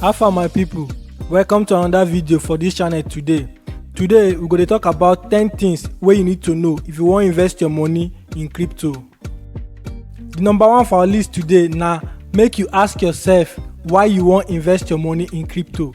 how far my people welcome to another video for this channel today today we go dey talk about 10 things wey you need to know if you wan invest your money in crypto the number one for our list today na make you ask yourself why you wan invest your money in crypto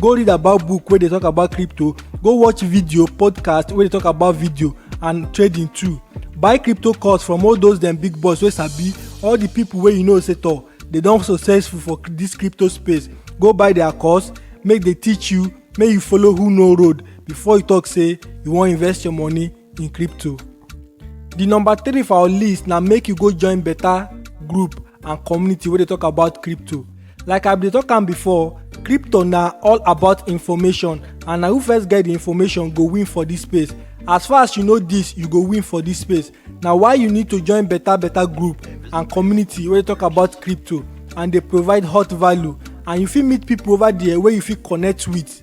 go read about book wey dey talk about crypto go watch video podcast wey dey talk about video and trading too buy crypto course from all those dem big boys wey sabi all the people wey you know say tor dey don successful for this crypto space go buy their course make dey teach you make you follow who know road before you talk say you wan invest your money in crypto. The number three for our list na make you go join better group and community wey dey talk about crypto. Like I bin dey talk am before, crypto na all about information and na who first get the information go win for this space. As far as you know this, you go win for this space. Na why you need to join better better group and community wey dey talk about crypto and dey provide hot value and you fit meet people over there wey you fit connect with.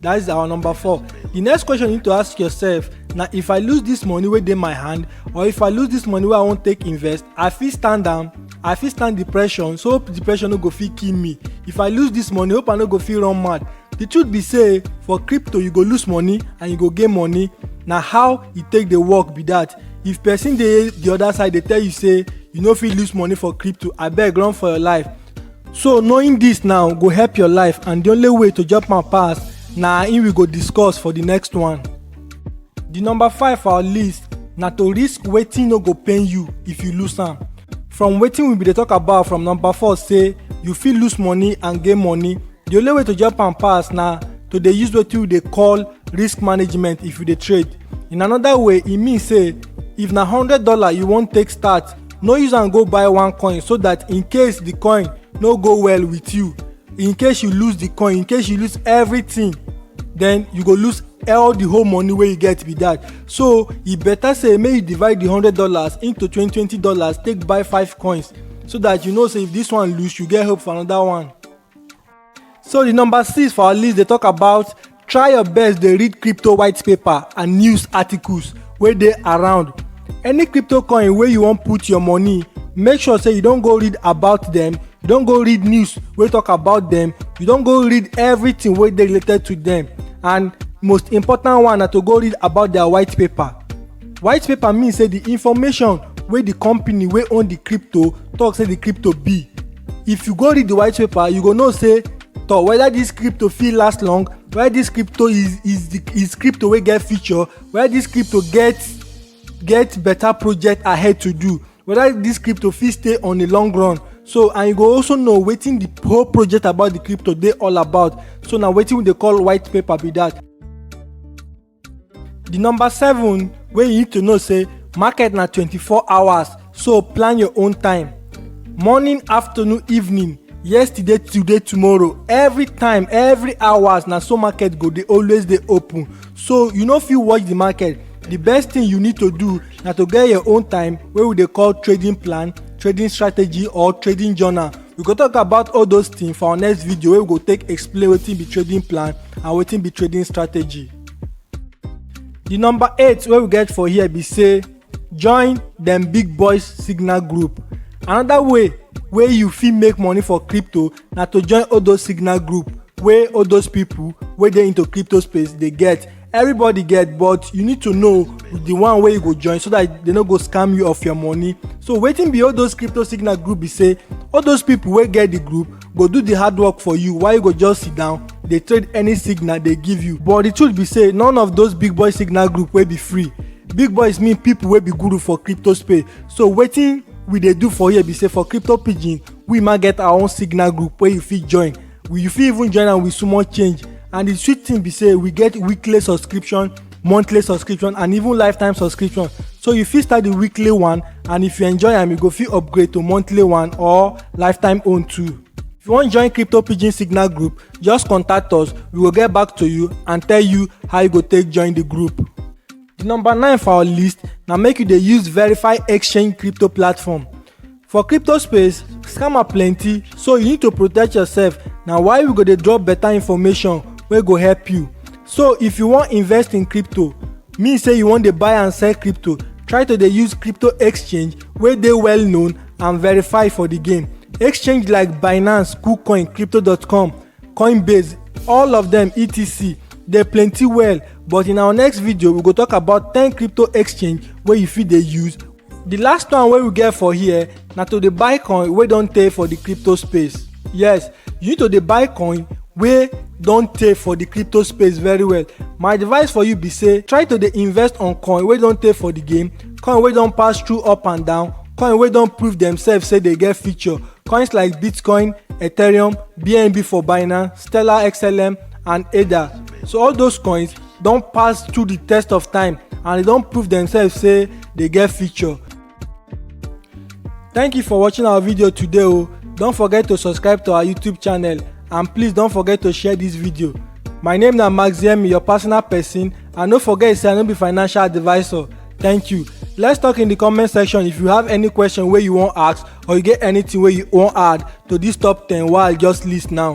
That is our number four. The next question you need to ask yourself na if I lose this money wey dey my hand or if I lose this money wey I wan take invest, I fit stand am, I fit stand depression so hope depression no go fit kill me. If I lose this money, hope I no go fit run mad. The truth be say for crypto you go lose money and you go gain money na how e take dey work be that. If person dey the other side dey tell you say you no fit lose money for crypto abeg run for your life So knowing this now go help your life and the only way to jump am pass na im we go discuss for the next one. The number five for our list na to risk wetin no go pain you if you lose am. From wetin we bin dey talk about from number four say you fit lose money and gain money, the only way to jump am pass na to dey use wetin we dey call risk management if you dey trade. In another way, e mean say if na hundred dollar you wan take start, no use am go buy one coin so that in case the coin no go well with you in case you lose the coin in case you lose everything then you go lose all the whole money wey you get be that so e better say make you divide the hundred dollars into twenty twenty dollars take buy five coins so that you know say if this one lose you get hope for another one So the number six for our list dey talk about try your best dey read crypto white paper and news articles wey dey around. Any crypto coin wey you wan put your money, make sure say you don go read about them, you don go read news wey talk about them, you don go read everything wey dey related to them and most important one na to go read about their white paper. white paper mean say the information wey the company wey own the crypto talk say the crypto be if you go read the white paper you go know say to whether this crypto fit last long whether this crypto is is the is crypto wey get future whether this crypto get get better project ahead to do whether this crypto fit stay on the long run so and you go also know wetin the whole project about the crypto dey all about so na wetin we dey call white paper be that The number seven wey you need to know say market na 24 hours so plan your own time. Morning, afternoon, evening, yesterday, today, tomorrow, every time, every hours na so market go dey always dey open. So you no fit watch the market. The best thing you need to do na to get your own time wey we dey call trading plan, trading strategy or trading journal we go talk about all those things for our next video wey we go take explain wetin be trading plan and wetin be trading strategy the number eight wey we get for here be say join dem big boys signal group another way wey you fit make money for crypto na to join all those signal group wey all those people wey dey into crypto space dey get everybody get but you need to know the one wey you go join so that they no go scam you of your money so wetin be all those crypto signal group be say all those people wey get the group go do the hard work for you while you go just sit down dey trade any signal they give you but the truth be say none of those big boy signal group wey be free big boys mean people wey be guru for crypto space so wetin we dey do for here be say for crypto pidgin we ma get our own signal group wey you fit join we you fit even join am with small change and the sweet thing be say we get weekly subscription monthly subscription and even lifetime subscription so you fit start the weekly one and if you enjoy am you go fit upgrade to monthly one or lifetime own too if you wan join crypto pidgin signal group just contact us we go get back to you and tell you how you go take join the group the number nine for our list na make you dey use verify exchange crypto platform For crypto space, scammer plenty, so you need to protect yourself. Na why we go dey drop better information wey go help you. So if you wan invest in crypto, mean say you wan dey buy and sell crypto, try to dey use crypto exchange wey dey well known and verified for the game. Exchange like Binance, KuCoin, Crypto.com, Coinbase, all of them etc. Dey plenty well, but in our next video we go talk about 10 crypto exchange wey you fit dey use The last one wey we get for here na to dey buy coin wey don tey for the crypto space. Yes, you need to dey buy coin wey don tey for the crypto space very well. My advice for you be say try to dey invest on coin wey don tey for the game, coin wey don pass through up and down, coin wey don prove themselves say dey get future. Coins like Bitcoin, Ethereum, BNB for Binance, Stellar XLM and ADA. So all those coins don pass through the test of time and they don prove themselves say they get future thank you for watching our video today o don forget to subscribe to our youtube channel and please don forget to share this video my name na maxiemi your personal person and no forget say i no be financial advisor thank you let's talk in the comment section if you have any question wey you wan ask or you get anything wey you wan add to this top ten wey i just list now.